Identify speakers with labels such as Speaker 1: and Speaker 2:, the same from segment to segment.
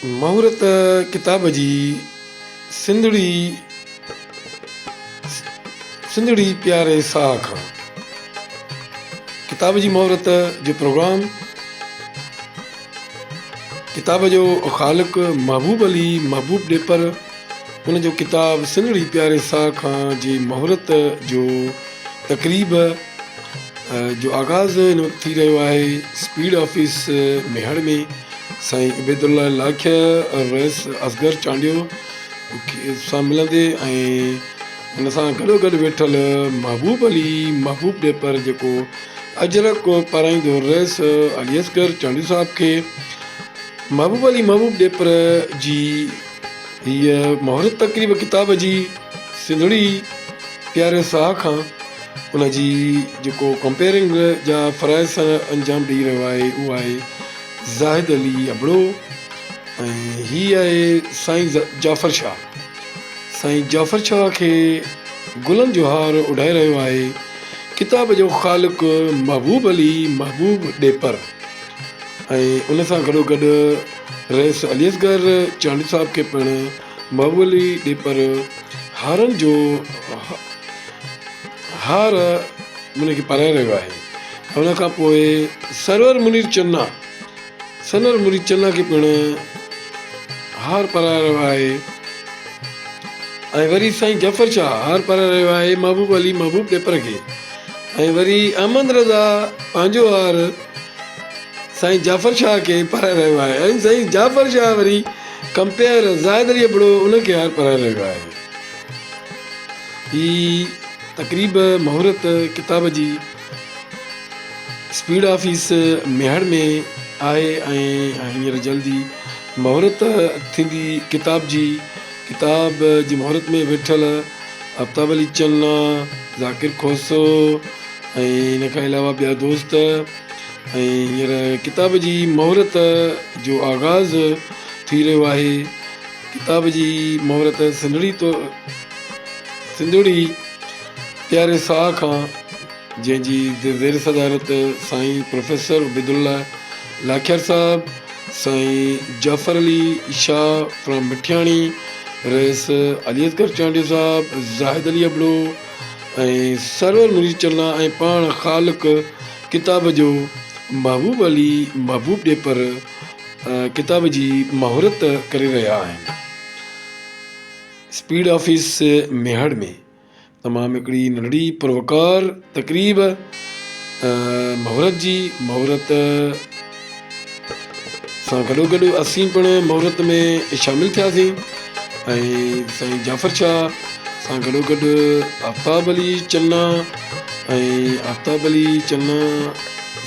Speaker 1: مهورت ڪتاب جي سنڌڙي سنڌڙي پياري ساهه کان ڪتاب جي مهورت جو پروگرام ڪتاب جو خالق محبوب علي محبوب ڏيپر هن جو ڪتاب سنهڙي پياري ساهه کان جي مهورت جو تقريب جو آغاز هن وقت ٿي رهيو آهي اسپيڊ آفيس ميهڙ ۾ سائين عبيد الله لاکيا ۽ رئيس اصغر چانڊيو سان ملندي ۽ ان سان گڏو گڏ ويٺل محبوب علي محبوب ڏيپر جيڪو اجرڪ پارائيندو رئيس علي اصغر چانڊيو صاحب کي محبوب علي محبوب ڏيپر جي هيء مهورت تقريب ڪتاب جي سنڌڙي پياري ساهه کان ان جي جيڪو ڪمپيئرنگ جا فرائض سر انجام ڏئي رهيو آهي اهو آهي زاهد علي ابڙو ۽ هي آهي سائين جعفر شاهه سائين جعفر شاهه کي گلن جو هار اڏائي رهيو آهي ڪتاب جو خالق محبوب علي محبوب ڏيپر ۽ ان سان گڏو گڏ رئيس علي اصغر چانڊيو صاحب کي پڻ مئويلي ڏيپر هارن جو هار منهن کي پرائي رهيو آهي ۽ ان کان پوء سرور منير چنا سنور منير چنا کي پڻ هار پرائي رهيو آهي ۽ وري سائين جعفر شاهه هار پرائي رهيو آهي محبوب علي محبوب ڏيپر کي ۽ وري احمد رضا پنهنجو هار سائين جعفر شاهه کي پرائي رهيو آهي ۽ سائين جعفر شاهه وري ڪمپيئر زاهد علي ابڙو ان کي هار پرائي رهيو آهي. هي تقريب مهورت ڪتاب جي اسپيڊ آفيس ميهڙ ۾ آهي ۽ هينئر جلد ئي مهورت ٿيندي ڪتاب جي ڪتاب جي مهورت ۾ ويٺل آفتاب علي چنا، ذاڪر کوسو ۽ ان کان علاوه ٻيا دوست ۽ هينئر ڪتاب جي مهورت جو آغاز ٿي رهيو آهي. ڪتاب جي مهورت سنڌڙي تو سنڌڙي پياري ساهه کان جنهن جي زير صدارت سائين پروفيسر عبيدالله لاکيار صاحب سائين جعفر علي شاهه فرام مٺياڻي، رئيس علي اصغر چانڊيو صاحب، زاهد علي ابڙو ۽ سرور مريد چنا ۽ پاڻ خالق ڪتاب جو محبوب علي محبوب ڏيپر ڪتاب جي مهورت ڪري رهيا آهن اسپيڊ آفيس ميهڙ ۾. تمام هڪڙي ننڍڙي پر وقار تقريب مهورت جي مهورت سان گڏو گڏ اسين پڻ مهورت ۾ شامل ٿياسين ۽ سائين جعفر شاهه سان گڏو گڏ آفتاب علي چنا ۽ آفتاب علي چنا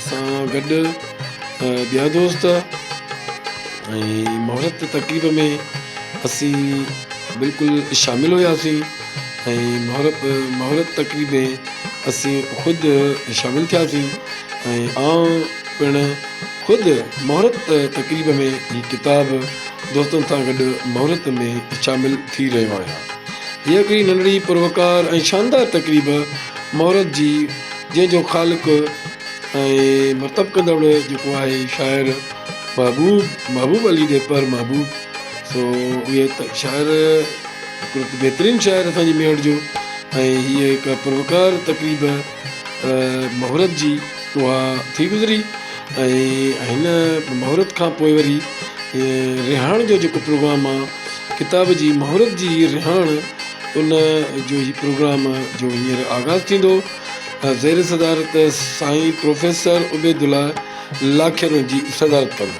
Speaker 1: سان گڏ ٻيا دوست ۽ مهورت تقريب ۾ اسين بلڪل شامل هياسين ۽ مهورت تقريب ۾ اسين خود شامل ٿياسين ۽ آئون پڻ خود مهورت تقريب ۾ هي ڪتاب دوستن سان گڏ مهورت ۾ شامل ٿي رهيو آهيان. هيء هڪڙي ننڍڙي پروقار ۽ شاندار تقريب مهورت جي جنهن جو خالق ۽ مرتب ڪندڙ جيڪو آهي شاعر محبوب محبوب علي ڏيپر محبوب سو اهي شاعر هڪڙو بهترين شاعر اسان جي ميوٽ جو ۽ هيء هڪ پروقار تقريب مهورت جي اها ٿي گذري ۽ هن مهورت کان پوء وري رهاڻ جو جيڪو پروگرام آهي ڪتاب جي مهورت جي رهاڻ ان جو هي پروگرام جو هينئر آغاز ٿيندو زير صدارت سائين پروفيسر عبيدالله لاکيرو جي صدارت ڪندو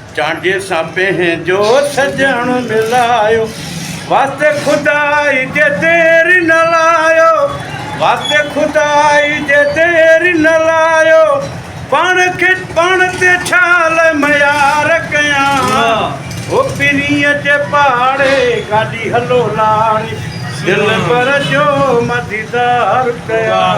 Speaker 2: چانڊيي سان پنهنجو سڄڻ ملايو واسطي خدا جي دير نه لايو واسطي خدا جي دير نه لايو پاڻ کي پاڻ تي ڇا لاء ميار ڪيان هو پرينء جي پاڙي گاڏي هلو لاڙي دلبر جو مان ديدار ڪيان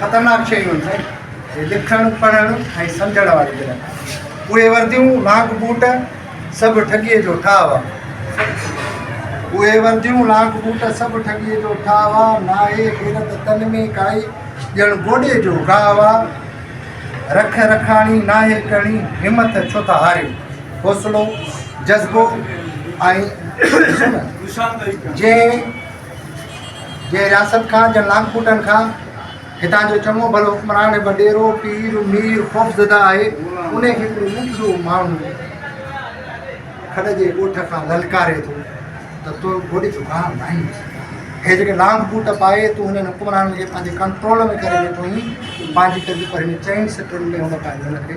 Speaker 3: خطرناڪ شيون آهن سائين هي لکڻ پڙهڻ ۽ سمجهڻ واري دل اهي ورديون لاک بوٽ سڀ ٺڳيء جو ٺاهه هوا اهي ورديون لاک بوٽ سڀ ٺڳيء جو ٺاهه هوا ناهي غيرت تن ۾ ڪائي ڄڻ گوڏي جو گاهه هوا رک رکاڻي ناهي ڪڻي همٿ ڇو ٿا هاريو حوصلو، جذبو ۽ عزم جنهن جنهن رياست کان جن لانگ پوٽن کان هتان جو چڱو ڀلو حڪمران وڏيرو پير مير خوفزده آهي انهي کي هڪڙو ننڍڙو ماڻهو کڏ جي ڳوٺ کان للڪاري ٿو ته تو گوڏي جو گاهه ناهين هي جيڪي لانگ بوٽ پائي تون هنن حڪمرانن کي پنهنجي ڪنٽرول ۾ ڪري ويٺو آهين پنهنجي ڪري پر هن چئن سٽن ۾ هن پنهنجي هن کي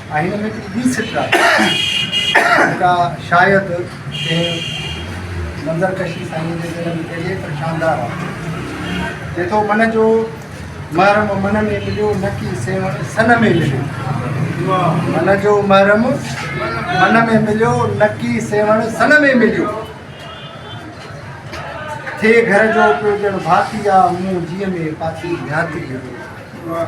Speaker 3: ۽ هن ۾ هڪڙي ٻي سٽ آهي جيڪا شايد ڪنهن منظر ڪشي سائينء جي ذهن ۾ پئجي پر شاندار آهي. چئي ٿو من جو محرم من ۾ مليو نه ڪي سيوهڻ سن ۾ مليو. من جو محرم من ۾ مليو نه ڪي سيوهڻ سن ۾ مليو. ٿئي گهر جو پيو ڄڻ ڀاتي آ مون جيء ۾ پاتي ڀياتي آ.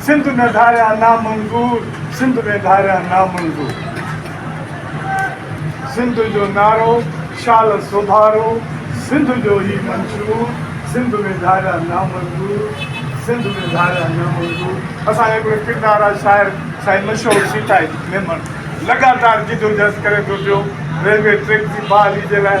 Speaker 4: سنڌ ۾ ڌاريان نامنظور سنڌ ۾ ڌاريان نامنظور سنڌ جو نارو شال سوڀارو سنڌ جو هي منشور سنڌ ۾ ڌاريان نامنظور سنڌ ۾ ڌاريان نامنظور اسان جي هڪڙي ڪردار آ شاعر سائين مشهور سيتائي ميمڻ لڳاتار جدوجهد ڪري ٿو پيو ريلوي ٽريڪ جي بحالي جي لاء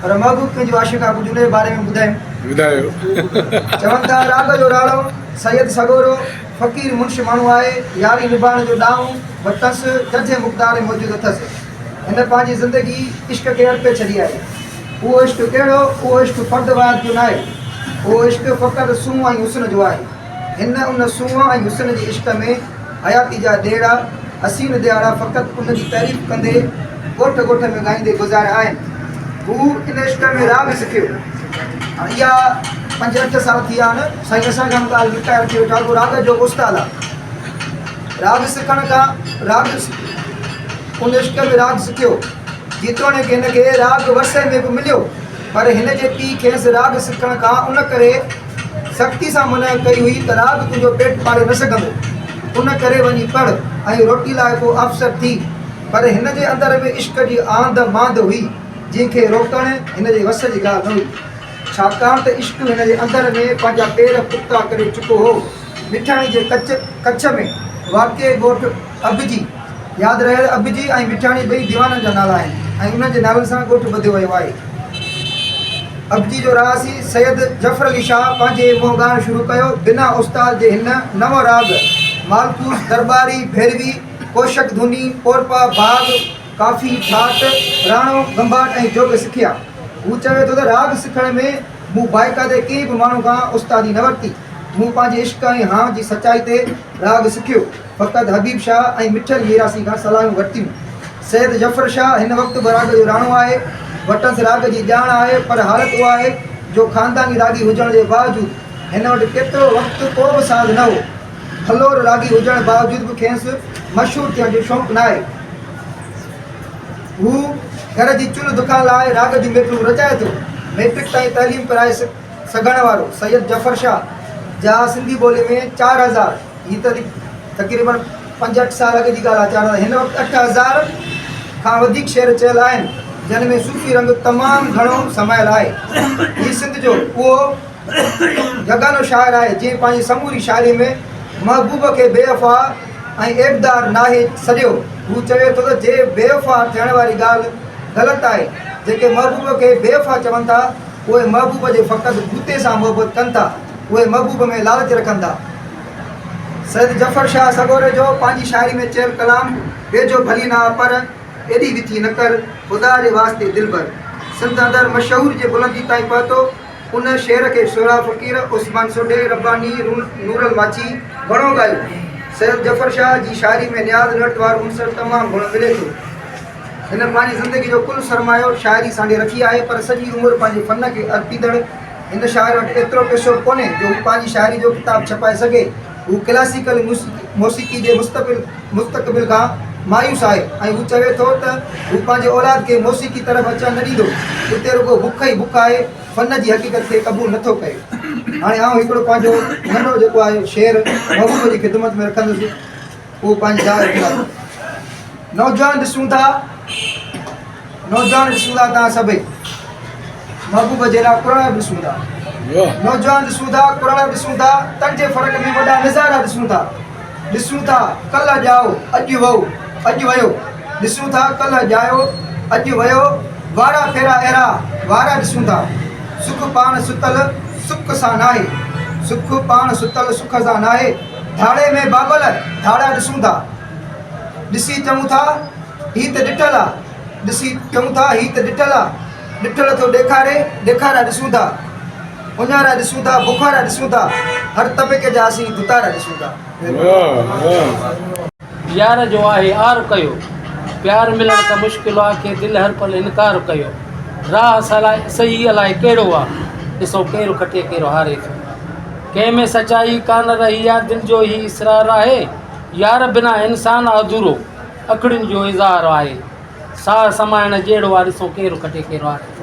Speaker 5: پر محبوب پنهنجي عاشق ابو جليل جي باري ۾ ٻڌايم. چون ٿا، راڳ جو راڻو، سيد سڳورو، فقير منش ماڻهو آهي، ياري نڀائڻ جو ڏانء و تس ججهي مقدار ۾ موجود اٿس. هن پنهنجي زندگي عشق کي ارپي ڇڏي آهي. اهو عشق ڪهڙو؟ اهو عشق فرد واحد جو ناهي. اهو عشق فقط سونهن ۽ حسن جو آهي. هن ان سونهن ۽ حسن جي عشق ۾ حياتي جا ڏيئڙا حسين ڏيئاڙا فقط ان جي تعريف ڪندي ڳوٺ ڳوٺ ۾ ڳائيندي گذاريا آهن هو ان عشق ۾ راڳ سکيو هاڻ اها پنج اٺ سال ٿي ويا آهن سائين اسان کان ڪالهه رٽائر ٿي ويٺا اهو راڳ جو استاد آهي راڳ سکڻ کان راڳ ان عشق ۾ راڳ سکيو جيتوڻيڪ هن کي راڳ ورثي ۾ به مليو پر هن جي پيء کيس راڳ سکڻ کان ان ڪري سختي سان منع ڪئي هئي ته رات تنهنجو پيٽ پالي نه سگهندو، ان ڪري وڃي پڙهه ۽ روٽي لاء ڪو افسر ٿي. پر هن جي اندر ۾ عشق جي آنڌ مانڌ هئي، جنهن کي روڪڻ هن جي وس جي ڳالهه نه هئي. ڇاڪاڻ ته عشق هن جي اندر ۾ پنهنجا پير پختا ڪري چڪو هو. مٺاڻي جي ڪڇ ۾ واقع ڳوٺ اڀجي، ياد رهيل اڀجي ۽ مٺياڻي ٻئي ديوانن جا نالا آهن ۽ انهن جي نالن سان ڳوٺ ٻڌيو ويو آهي. اڀجي جو رهاسي سيد ظفر علي شاهه پنهنجي منهن ڳائڻ شروع ڪيو. بنا استاد جي هن نو راڳ، مالڪوس، درٻاري، ڀيروي، ڪوشڪ ڌوني، پورپا، ڀاڳ، ڪافي، ٺاٽ، راڻو، ڳنڀاٽ ۽ جوڳ سکيا. هو چوي ٿو ته راڳ سکڻ ۾ مون بائقاعدي ڪنهن به ماڻهو کان استادي نه ورتي. مون پنهنجي عشق ۽ هانء جي سچائي تي راڳ سکيو. فقط حبيب شاهه ۽ مٺل ميراسي کان صلاحيون ورتيون. سيد ظفر شاهه هن وقت به راڳ جو راڻو آهي. وٽس راڳ جي ڄاڻ آهي پر حالت اها آهي جو خانداني راڳي هجڻ جي باوجود هن وٽ ڪيترو وقت ڪو به ساز نه هو. ڦلور راڳي هجڻ باوجود به کينس مشهور ٿيڻ جو شوق ناهي. هو گهر جي چلهه دکان لاء راڳ جون ميٽون رچائي ٿو. ميٽرڪ تائين تعليم پرائي سگهڻ وارو سيد ظفر شاهه جا سنڌي ٻولي ۾ چار هزار. هي ته تقريبن پنجهٺ سال اڳ جي ڳالهه آهي، چيارهن هن وقت اٺ هزار کان وڌيڪ شعر چيل آهن، جن ۾ صوفي رنگ تمام گهڻو سمايل آهي. هي سنڌ جو اهو يگانو شاعر آهي، جنهن پنهنجي سموري شاعريء ۾ محبوب کي بي وفا ۽ عيبدار ناهي سڏيو. هو چوي ٿو ته جي بي وفا ٿيڻ واري ڳالهه غلط آهي، جيڪي محبوب کي بي وفا چون ٿا، اهي محبوب جي فقط بوتي سان محبت ڪن ٿا. اهي محبوب ۾ لالچ رکن ٿا. سيد ظفر شاهه سڳوري جو پنهنجي شاعري ۾ چيل ڪلام ويجهو ڀلي نه آ پر ايڏي وٿي نه ڪر خدا جي واسطي دلبر سنڌ اندر مشهور جي بلندي تائين پهتو ان شعر کي سهراب فقير، عثمان سوڍي، رباني، نورالماڇي گهڻو ڳايو. سيد ظفر شاهه جي شاعري ۾ نياز نرت وارو عنصر تمام گهڻو ملي ٿو. هن پنهنجي زندگي جو ڪل سرمايو شاعري سانڍي رکي آهي پر سڄي عمر پنهنجي فن کي ارپيندڙ هن شاعر وٽ ايترو پئسو ڪونهي جو هو پنهنجي شاعري جو ڪتاب ڇپائي سگهي. هو ڪلاسيڪل موسيقي جي مستقبل کان مايوس آهي ۽ هو چوي ٿو ته هو پنهنجي اولاد کي موسيقي طرف اچڻ نه ڏيندو. اتي رڳو بک ئي بک آهي، فن جي حقيقت کي قبول نٿو ڪري. هاڻي آئون هڪڙو پنهنجو ننڍڙو جيڪو آهي شعر محبوب جي خدمت ۾ رکندس. اهو پنهنجي جاء رکي آيو. نوجوان ڏسون ٿا نوجوان ڏسون ٿا توهان سڀئي محبوب جي لاء قرآن به ڏسون ٿا نوجوان ڏسون ٿا قرآن به ڏسون ٿا تن جي فرق ۾ وڏا نظارا ڏسون ٿا ڏسون ٿا ڪلهه ڄائو اڄ وئو اڄ ويو ڏسون ٿا ڪلهه ڄايو اڄ ويو وارا ڦيرا اهڙا وارا ڏسون ٿا سک پاڻ ستل سک سان ناهي سک پاڻ ستل سک سان ناهي ڌاڙي ۾ ڀاڳل ڌاڙا ڏسون ٿا، ڏسي چئون ٿا هي ته ڏٺل آ، ڏسي چئون ٿا هي ته ڏٺل آ، ڏٺل ٿو ڏيکاري، ڏيکارا ڏسون ٿا، اڃارا ڏسون ٿا، بخارا ڏسون ٿا، هر طبقي جا اسين ڀتارا ڏسون ٿا.
Speaker 1: يار جو آهي
Speaker 6: آر ڪيو. پيار ملڻ ته مشڪل آ ڪي دل هر پل انڪار ڪيو. راهه سلاء صحيح الاء ڪهڙو آ ڏسو ڪير کٽي ڪير هاري ٿو. ڪنهن ۾ سچائي ڪانه رهي آ دل جو هي اسرار آهي. يار بنا انسان آ اڌورو اکڙين جو اظهار آهي. ساهه سمائڻ جهڙو آ ڏسو ڪير کٽي ڪير هاري ٿو.